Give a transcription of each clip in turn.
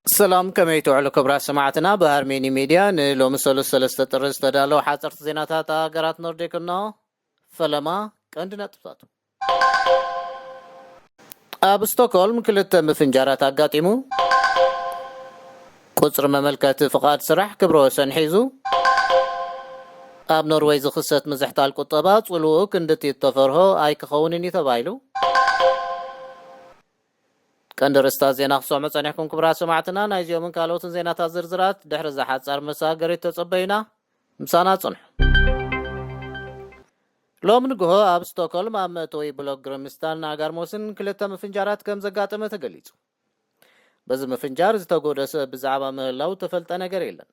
ሰላም ከመይ ትውዕሉ ክብራት ሰማዕትና ብሃርሜኒ ሚድያ ንሎሚ ሰሉስ ሰለስተ ጥሪ ዝተዳለዉ ሓፀርቲ ዜናታት ሃገራት ኖርዲክ እኖ ፈለማ ቀንዲ ነጥብታቱ ኣብ ስቶክሆልም ክልተ ምፍንጃራት ኣጋጢሙ ቁጽሪ መመልከቲ ፍቓድ ስራሕ ክብረ ወሰን ሒዙ። ኣብ ኖርወይ ዝኽሰት ምዝሕታል ቁጠባ ጽልውኡ ክንድቲ እተፈርሆ ኣይክኸውንን እዩ ተባሂሉ። ቀንዲ ርእስታት ዜና ክትሰምዑ ጸኒሕኩም ክቡራት ሰማዕትና። ናይ እዚኦምን ካልኦትን ዜናታት ዝርዝራት ድሕሪ እዛ ሓጻር መሰጋገሪት ተጸበዩና። ምሳና ጽንሑ። ሎሚ ንግሆ ኣብ ስቶኮልም ኣብ መእተዊ ብሎክ ግርምስታን ኣጋርሞስን ክልተ ምፍንጃራት ከምዘጋጠመ ተገሊጹ። በዚ ምፍንጃር ዝተጎድኦ ሰብ ብዛዕባ ምህላው እተፈልጠ ነገር የለን።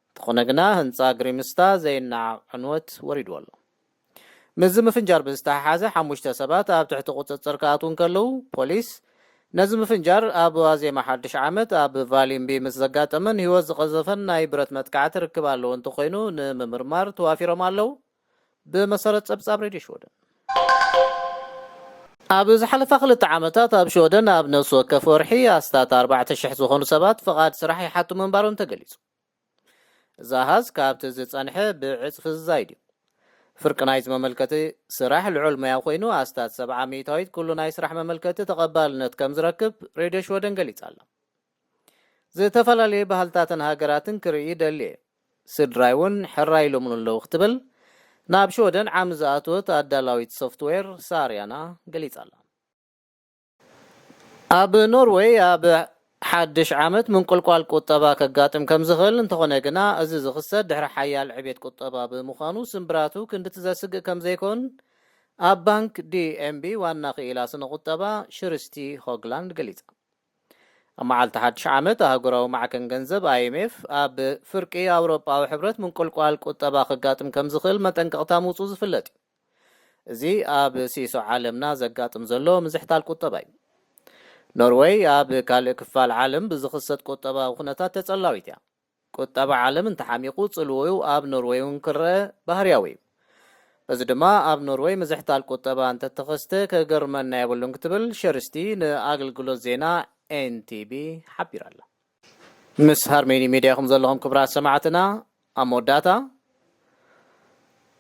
እንተኾነ ግና ህንጻ ግሪምስታ ዘይነዓቕ ዕንወት ወሪድዎ ኣሎ። ምስዚ ምፍንጃር ብዝተሓሓዘ ሓሙሽተ ሰባት ኣብ ትሕቲ ቁጽጽር ክኣትዉ እንከለዉ፣ ፖሊስ ነዚ ምፍንጃር ኣብ ዋዜማ ሓድሽ ዓመት ኣብ ቫሊምቢ ምስ ዘጋጠመን ህይወት ዝቐዘፈን ናይ ብረት መጥቃዕቲ ርክብ ኣለዎ እንተኾይኑ ንምምርማር ተዋፊሮም ኣለዉ። ብመሰረት ጸብጻብ ሬድዮ ሽወደን፣ ኣብ ዝሓለፋ ክልተ ዓመታት ኣብ ሽወደን ኣብ ነፍሲ ወከፍ ወርሒ ኣስታት ኣርባዕተ ሽሕ ዝኾኑ ሰባት ፍቓድ ስራሕ ይሓቱ ምንባሮም ተገሊጹ። እዚ ኣሃዝ ካብቲ ዝጸንሐ ብዕጽፊ ዝዛይድ እዩ። ፍርቂ ናይዚ መመልከቲ ስራሕ ልዑል ሞያ ኮይኑ ኣስታት ሰብዓ ሚእታዊት ኩሉ ናይ ስራሕ መመልከቲ ተቐባልነት ከምዝረክብ ሬድዮ ሽወደን ገሊጻ ኣላ። ዝተፈላለየ ባህልታትን ሃገራትን ክርኢ ደልየ። ስድራይ እውን ሕራይ ኢሎምሉ ኣለዉ ክትብል ናብ ሽወደን ዓሚ ዝኣተወት ኣዳላዊት ሶፍትዌር ሳርያና ገሊጻ'ላ። ኣብ ኖርወይ ኣብ ሓድሽ ዓመት ምንቁልቋል ቁጠባ ከጋጥም ከም ዝኽእል፣ እንተኾነ ግና እዚ ዝኽሰት ድሕሪ ሓያል ዕቤት ቁጠባ ብምዃኑ ስምብራቱ ክንድቲ ዘስግእ ከም ዘይኮን ኣብ ባንክ ዲኤምቢ ዋና ክኢላ ስነ-ቁጠባ ሽርስቲ ሆግላንድ ገሊጻ። ኣብ መዓልቲ ሓድሽ ዓመት ኣህጉራዊ ማዕከን ገንዘብ፣ IMF፣ ኣብ ፍርቂ ኣውሮጳዊ ሕብረት ምንቁልቋል ቁጠባ ከጋጥም ከም ዝኽእል መጠንቀቕታ ምውጽኡ ዝፍለጥ እዩ። እዚ ኣብ ሲሶ ዓለምና ዘጋጥም ዘሎ ምዝሕታል ቁጠባ እዩ። ኖርወይ ኣብ ካልእ ክፋል ዓለም ብዝኽሰት ቁጠባዊ ኩነታት ተጸላዊት እያ። ቁጠባ ዓለም እንተሓሚቑ ጽልውኡ ኣብ ኖርወይ እውን ክረኣ ባህርያዊ እዩ። እዚ ድማ ኣብ ኖርወይ ምዝሕታል ቁጠባ እንተተኸስተ ከገርመና የብሉን ክትብል ሸርስቲ ንኣገልግሎት ዜና ኤንቲቢ ሓቢራ ኣላ። ምስ ሃርሜኒ ሜድያ ኢኹም ዘለኹም ክብራት ሰማዕትና። ኣብ መወዳእታ፣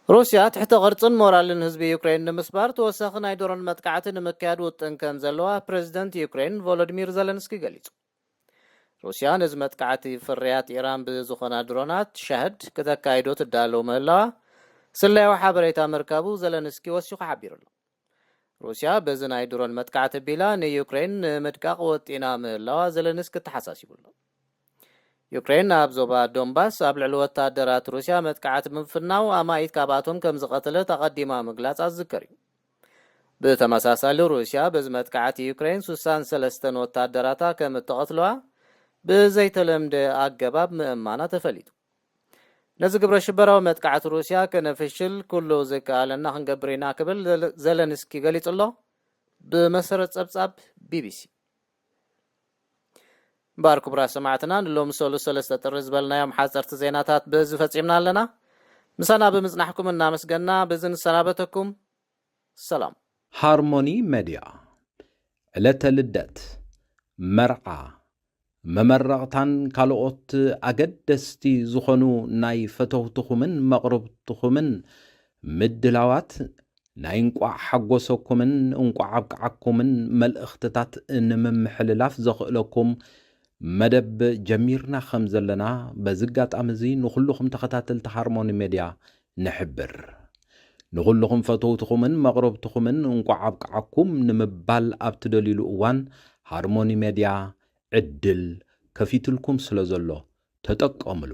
ሩስያ ትሕተ ቅርጽን ሞራልን ህዝቢ ዩክረይን ንምስባር ተወሳኺ ናይ ድሮን መጥቃዕቲ ንምክያድ ውጥን ከምዘለዋ ፕረዚደንት ዩክረይን ቮሎድሚር ዘለንስኪ ገሊጹ። ሩስያ ነዚ መጥቃዕቲ ፍርያት ኢራን ብዝኾና ድሮናት ሻህድ ክተካይዶ ትዳለው ምህላዋ ስለያዊ ሓበሬታ ምርካቡ ዘለንስኪ ወሲኹ ሓቢሩ ኣሎ። ሩስያ በዚ ናይ ድሮን መጥቃዕቲ ኣቢላ ንዩክረይን ንምድቃቕ ወጢና ምህላዋ ዘለንስኪ ኣተሓሳሲቡ ኣሎ። ዩክረይን ኣብ ዞባ ዶንባስ ኣብ ልዕሊ ወታደራት ሩስያ መጥቃዕቲ ብምፍናው ኣማኢት ካብኣቶም ከምዝቐተለት ኣቐዲማ ምግላጻ ዝዝከር እዩ። ብተመሳሳሊ ሩስያ በዚ መጥቃዕቲ ዩክረይን ሱሳን ሰለስተን ወታደራታ ከም እተቐትሉዋ ብዘይተለምደ ኣገባብ ምእማና ተፈሊጡ። ነዚ ግብረ ሽበራዊ መጥቃዕቲ ሩስያ ከነፍሽል ኩሉ ዝከኣለና ክንገብር ኢና ክብል ዘለንስኪ ገሊጹ'ሎ፣ ብመሰረት ጸብጻብ ቢቢሲ። እምበኣር ክቡራት ሰማዕትና ንሎሚ ሰሉስ ሰለስተ ጥሪ ዝበልናዮም ሓጸርቲ ዜናታት በዚ ፈጺምና ኣለና። ምሳና ብምጽናሕኩም እናመስገና በዚ ንሰናበተኩም። ሰላም። ሃርሞኒ መድያ፣ ዕለተ ልደት፣ መርዓ፣ መመረቕታን ካልኦት ኣገደስቲ ዝኾኑ ናይ ፈተውትኹምን መቕርብትኹምን ምድላዋት ናይ እንቋዕ ሓጎሰኩምን እንቋዕ ኣብቅዓኩምን መልእኽትታት ንምምሕልላፍ ዘኽእለኩም መደብ ጀሚርና ከም ዘለና በዚ ኣጋጣሚ እዚ ንኹሉኹም ተኸታተልቲ ሃርሞኒ ሜድያ ንሕብር። ንኹሉኹም ፈተውትኹምን መቕረብትኹምን እንቋዕ ኣብቅዓኩም ንምባል ኣብ ትደልዩሉ እዋን ሃርሞኒ ሜድያ ዕድል ከፊትልኩም ስለ ዘሎ ተጠቀምሉ።